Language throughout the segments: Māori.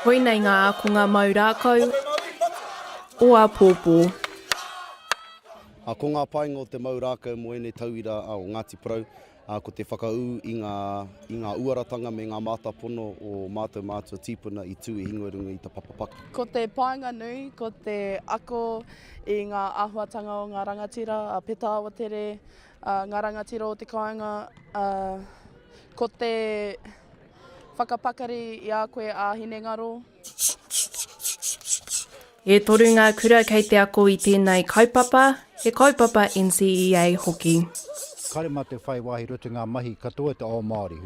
Koinei ngā ākonga mau rākau o āpōpō. Ko ngā painga o te mau rākau mō ēnei tauira o Ngāti Porou, ko te whakaū i ngā, i ngā uaratanga me ngā mātāpono o mātou mātua tīpuna i tū i hingo runga i ta papa paka. Ko te painga nui, ko te ako i ngā āhuatanga o ngā rangatira a Peta Awatere, A nga rangatira o te kainga a ko te whakapakari i a koe a hinengaro. E toru ngā kura kei te ako i tēnei kaupapa, he kaupapa NCEA hoki. Kāre mā te whai wāhi roto i ngā mahi katoa te ao Māori.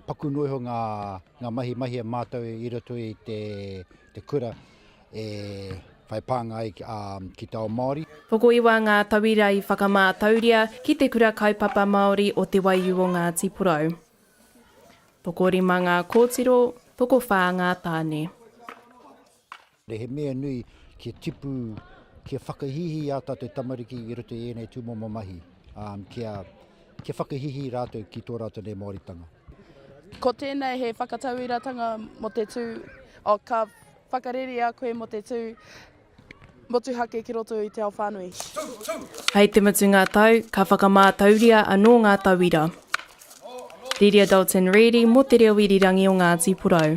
Paku noa iho ngā mahi mahia mātou i roto i te. Te kura e whai pānga ai ki te ao Māori. Tokoiwa ngā tauira i whakamātauria ki Te Kura Kaupapa Māori o Te Waiū o Ngāti Porou. Tokorima ngā kōtiro, tokowhā ngā tāne. He mea nui kia tipu, kia whakahīhī ā tātou tamariki i roto i ēnei tūmomo mahi, kia. Kia whakahihī rātou ki tō rātou nei Māoritanga. Ko tēnei he whakatauiratanga mō te tū, oh, ka whakarerea koe mō te tū motuhake ki roto i te ao whānui. Hei te mutu ngā tau, ka whakamātauria anō ngā tauira. Riri a Dalton Reedy mō te reo irirangi o Ngāti Porou.